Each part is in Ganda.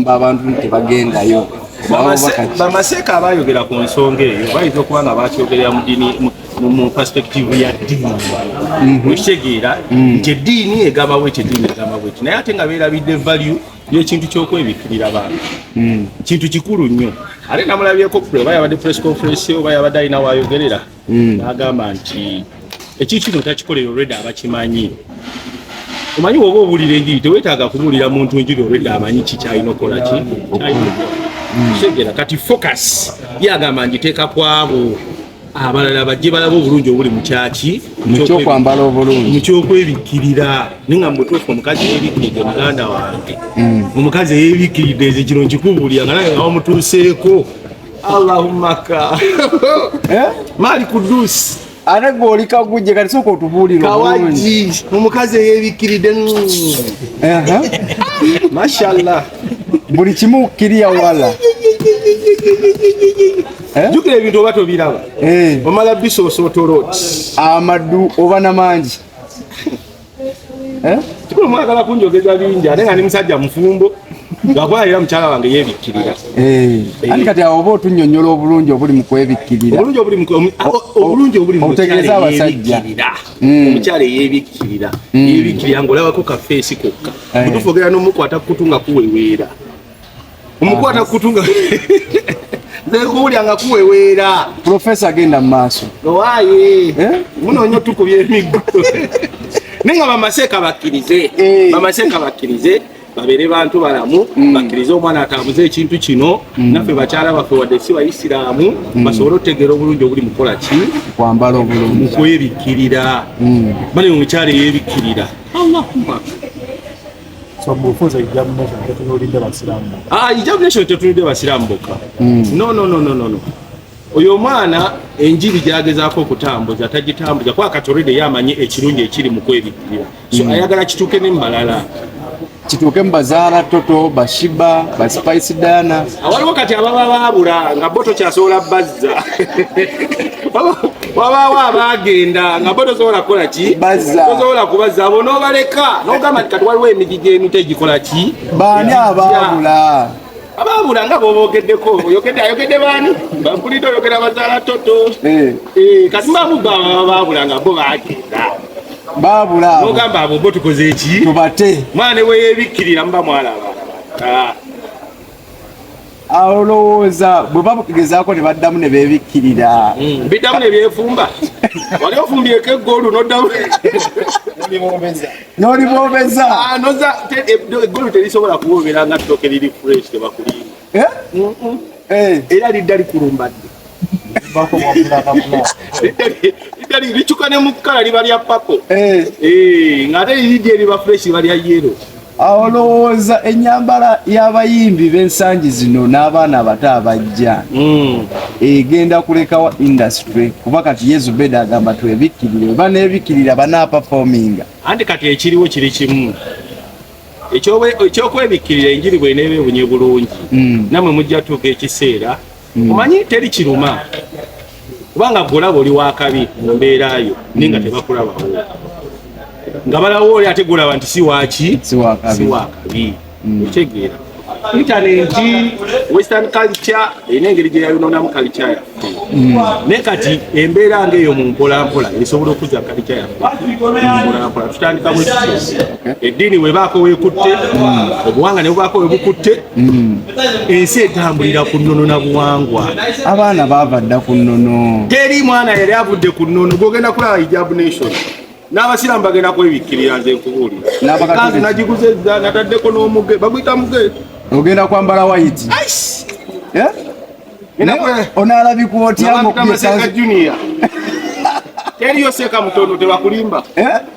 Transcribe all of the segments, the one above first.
okugamba abantu nti bagendayo bamaseeka abayogera ku nsonga eyo bayinza okuba nga bakyogerera mudini mu perspective ya ddiini mhm. okitegeera mhm. nti eddiini egamba bweki eddiini egamba bweki naye ate nga beerabidde value yekintu kyokwebikkirira bantu mhm. kintu kikulu nnyo ate namulabyeko oba yabadde press conference oba yabadde alina wayogerera hmm. n'agamba nti ekintu kino takikolera olwedde abakimanyi omanyi woba owulira enjiri tewetaaga kubuulira muntu enjiri olwedde amanyi ki kyalina okukola ki kyalinaokutegera kati focus yagamba ngiteeka kwabo abalala bajje balaba obulungi obuli mukyaki mukyokwambala obulungi mukyokwebikkirira ni nga mubutuufu omukazi yebikkiridde muganda wange hmm. omukazi eyebikkiridde nze kino nkikubuulira nga nawe nga wamutuuseeko Allahumma ka. Eh? Mali kudusi. Ana goli kaguje kati soko otubulira. Kawaji omukazi eyebikiride. Aha. Mashallah. Buli kimu kiriya wala. Eh? Jukira ebintu oba tobiraba. Eh. Omala biso sotolot. Amadu oba na manji. Eh? kikulu mwagala kunjogeza bingi ate nga ndi musajja mufumbo lwakuba era mukyala wange yebikkirira eh. Eh. ani kati awo oba otunyonyola obulungi obuli mu kwebikkirira obulungi obulimutegeeza abasajja hmm. omukyala eyebikkirira hmm. yebikkirira ngaolabako kafeesi kokka otufu ogera nomukwata kukutu nga kuweweera omukwata ah, kutunga nekuwulya nga kuweweera profesa agenda mu maaso owaye eh? munonyo tukubya emiggo naye nga bamaseeka bakkirize eh. bamaseeka bakkirize babere bantu balamu mm. bakirize omwana atambuze ekintu kino mm. naffe bakyala baffe wadde si bayisiraamu mm. basobole otegeera obulungi obuli mukola ki kwambala obulungi mukwebikkirira bane omukyala eyebikkirira allahuma So mufuza hijab nation tetunulidde basiramu. Ah, hijab nation tetunulidde basiramu bokka. Mm. No, no, no, no, no, no. Oyo mwana enjiri gyagezaako okutambuza tagitambuza kuba kati olwedde yamanyi ekirungi ekiri mu kwebikkirira so mm. ayagala kituuke ne mumalala kituuke mu bazaala toto bashiba baspice dana awaliwo kati ababa baabula nga bo tokyasobola bazza wabaawo abaagenda nga bo tosobola kukola ki tosobola kubazza abo n'obaleka n'ogamba nti kati waliwo emigi gy'emito egikola ki baani abaabula abaabula nga bobogeddeko oyogedde ayogedde baani bampulidde oyogera bazaala toto eh. Eh, kati mbamugga abaabula nga bo baagenda baabula n'ogamba abo bo tukoze ki tubate mwana ne weyebikkirira muba mwalaba ah. olowooza bwe bagezaako ne baddamu ne beebikkirira hmm. biddamu ne byefumba wali ofumbyeko eggolu noddamu nolibobeza ah, noza eggolu terisobola kuwobera nga ttooke liri fresh tebakulinga eh? eh. era lidda likulumbadde licuka ne mukukala liba lya papo eh. eh, ngate liridi eriba fresh liba lya yero awo lowooza enyambala y'abayimbi b'ensangi zino n'abaana abato abajja hmm. egenda kulekawa industry kuba kati yesu beda agamba twebikkirire oba nebikkirira banapafominga anti kati ekiriwo kiri kimu ekyokwebikirira enjiri bweneeba ebunye bulungi hmm. namwe mujja tuuka ekiseera hmm. omanyi teri kiruma kubanga golaba oli wakabi mu mbeera yo naye nga hmm. tebakulabawo nga balawo oli ate golaba nti siwaki siwakabi hmm. okitegeera intaneti western culture erina engeri gyeyayononamu kalica yaffe naye kati embeera nga eyo mu mpolampola esobola okuza kalica yaffe mpolampola tutandika bwe eddiini webaako wekutte obuwanga ne bubaako webukutte Hmm. ensi etambulira ku nnono na buwangwa abaana baava dda ku nnono teri mwana yali avudde ku nnono gwogenda kulaba hijab nation n'abasiraamu bagenda kwebikkirira nze nkubuulira kanzu nagiguze nataddeko n'omuge baguyita muge ogenda kwambala wayiti eh? onaalabikwa otya junior teriyo seeka mutono tebakulimba eh?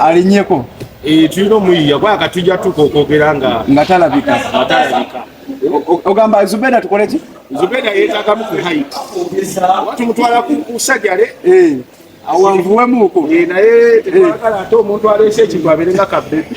alinyeko eh, tulina omuyiya kwa katujja tuka okwogera nga nga talabika ogamba zubeda tukole ki zubeda yetagamu ku haiti tumutwala ku sajale eh. awanvuwemuko eh, naye tekwagala ate omuntu aleese ekintu abeere nga kabbebi